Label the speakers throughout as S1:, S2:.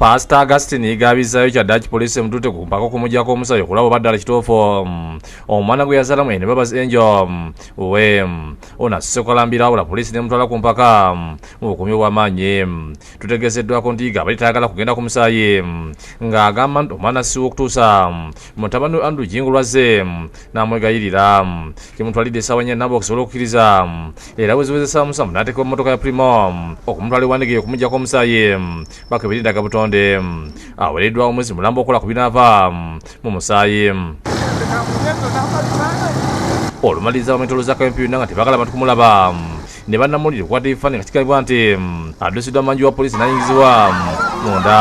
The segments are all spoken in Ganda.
S1: paasita augustin yigaabizaayo kya daki poliisi emutute ku mpaka okumujjako omusayi okulaba oba ddala kituufu mm, omwana gwe yazalamu ene babazi enjo mm, we mm, ono asuse okalambira awula poliisi nemutwala ku mpaka mu bukumi obw'amaanyi tutegeezeddwako nti yiga abali tayagala kugenda ku musaayi ng'agamba nti omwana siwa okutuusa mutabani we andrew jingu lwazze n'amwegayirira kimutwalidde essaawa nya nabo okusobola okukkiriza era weziwezesa musamu n'ateekebwa mu mmotoka ya primo okumutwala ewandigeyo okumugyako omusaayi bakebera endaga butonde awereddwa omwezi mulamba okola ku binaava mu musaayi olumaliriza bametoloza kampiyuna nga tebagala bantu kumulaba ne bannamawulire okukwata ebifaananyi nga kigambibwa nti mm, addusiddwa manju wa poliisi n'ayingizibwa mm, munda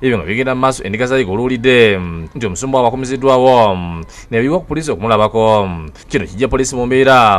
S1: ebyo nga bigenda mu maaso endiga zayiga oluwulidde mm, nti omusumba wabakumiziddwawo mm, nebiwa ku poliisi okumulabako mm, kino kijja poliisi mu mbeera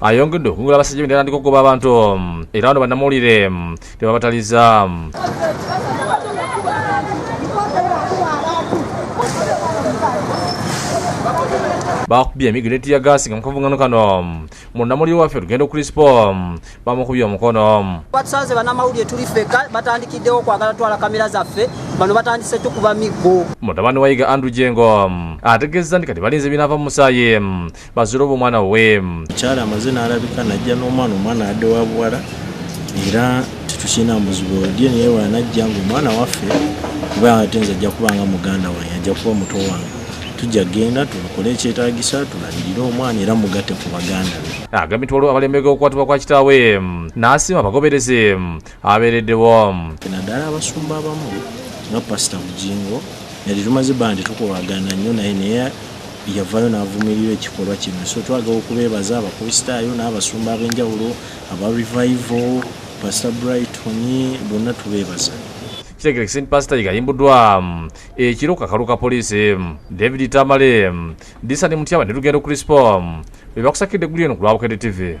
S1: ayongedde okungula abasajja bendera ndi kugoba abantu mm, era wano bannamawulire mm, tebabataliza mm. bakubye emigiro etiya gaasi nga mukavungano kano munamuli waffe lugendo crispo bamukubye omukono batusanze banamawulire
S2: tuli feka batandikiddewo okwagala twala kamera zaffe bano batandise tukuba miggo mutabani wayiga andrew
S1: jengo ategezza nti kati balinze binaava mu musaayi bazira oba omwana we mukyala amaze
S3: n'alabika najja n'omwana omwana adde wa buwala era tetukirina muzibu olye naye wanajja nga omwana waffe kuba ate nze ajja kuba nga muganda wange ajja kuba muto wange tujja genda tulukole ekyetagisa tulabirire omwana era mugate ku baganda be agambye nti waliwo abalembega
S1: okukwatibwa kwa kitaawe n'asiima abagoberezi abeeredde womu naddala
S3: abasumba abamu nga pasita bujingo nali tumaze bandi tukolagana nnyo naye naye yavayo n'avumirira ekikolwa kino so twagala okubeebaza abakristaayo n'abasumba ab'enjawulo aba revival pasita brighton bonna tubeebaza kitegere kisini
S1: pasita yigayimbuddwa mm, ekiro kakalu ka poliisi mm, david tamale mm, disani mutyaba ne lugendo crispo bebakusakidde eggulu eno ku lwabukede tv